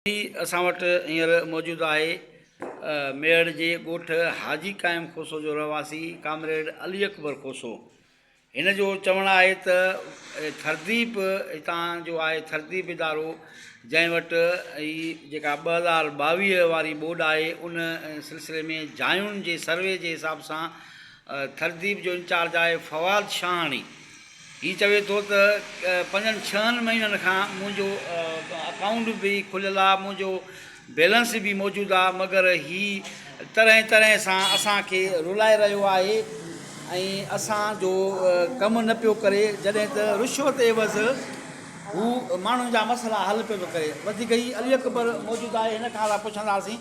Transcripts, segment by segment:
جي اسان وٽ هينئر موجود آهي ميهڙ جي ڳوٺ حاجي قائم کوسو جو رهواسي ڪامريڊ علي اڪبر کوسو هن جو چوڻ آهي ته ٿرديپ هتان جو آهي ٿرديپ ادارو جنهن وٽ هي جيڪا ٻه هزار ٻاويهه واري ٻوڏ آهي ان سلسلي ۾ جاين جي سروي جي حساب سان ٿرديپ جو انچارج آهي فواد شاهاڻي. هي چوي ٿو ته پنجن ڇهن مهينن کان منهنجو اڪائونٽ به کليل آهي، منهنجو بيلنس به موجود آهي مگر هي طرحين طرحين سان اسان کي رلائي رهيو آهي ۽ اسان جو ڪم نه پيو ڪري جڏهن ته رشوت عيوض هو ماڻهن جا مسئلا حل پيو ٿو ڪري. وڌيڪ هي علي اڪبر موجود آهي هن کان اسان پڇنداسين.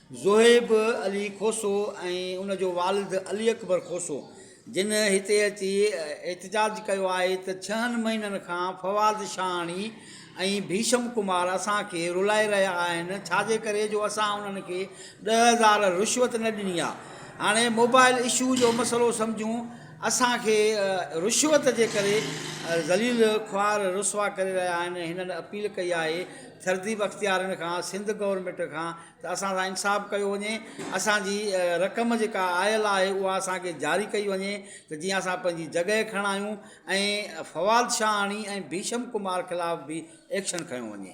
زوهيب علي کوسو ۽ ان جو والد علي اڪبر کوسو جن هتي اچي احتجاج ڪيو آهي ته ڇهن مهينن کان فواد شاهاڻي ۽ ڀيشم ڪمار اسان کي رلائي رهيا آهن ڇاجي ڪري جو اسان انهن کي ڏهه هزار رشوت نه ڏني آهي هاڻي موبائل اشو جو مسئلو سمجهون اسان کي رشوت جي ڪري ذليل خوار رسوا ڪري رهيا آهن هنن اپيل ڪئي آهي ٿردي بختيارين کان سنڌ گورنمينٽ کان ته اسان سان انصاف ڪيو وڃي اسان جي رقم جيڪا آيل آهي اها اسان کي جاري ڪئي وڃي ته جيئن اسان پنهنجي جڳهه کڻايون ۽ فواد شاهاڻي ۽ ڀيشم ڪمار خلاف به ايڪشن کنيو وڃي.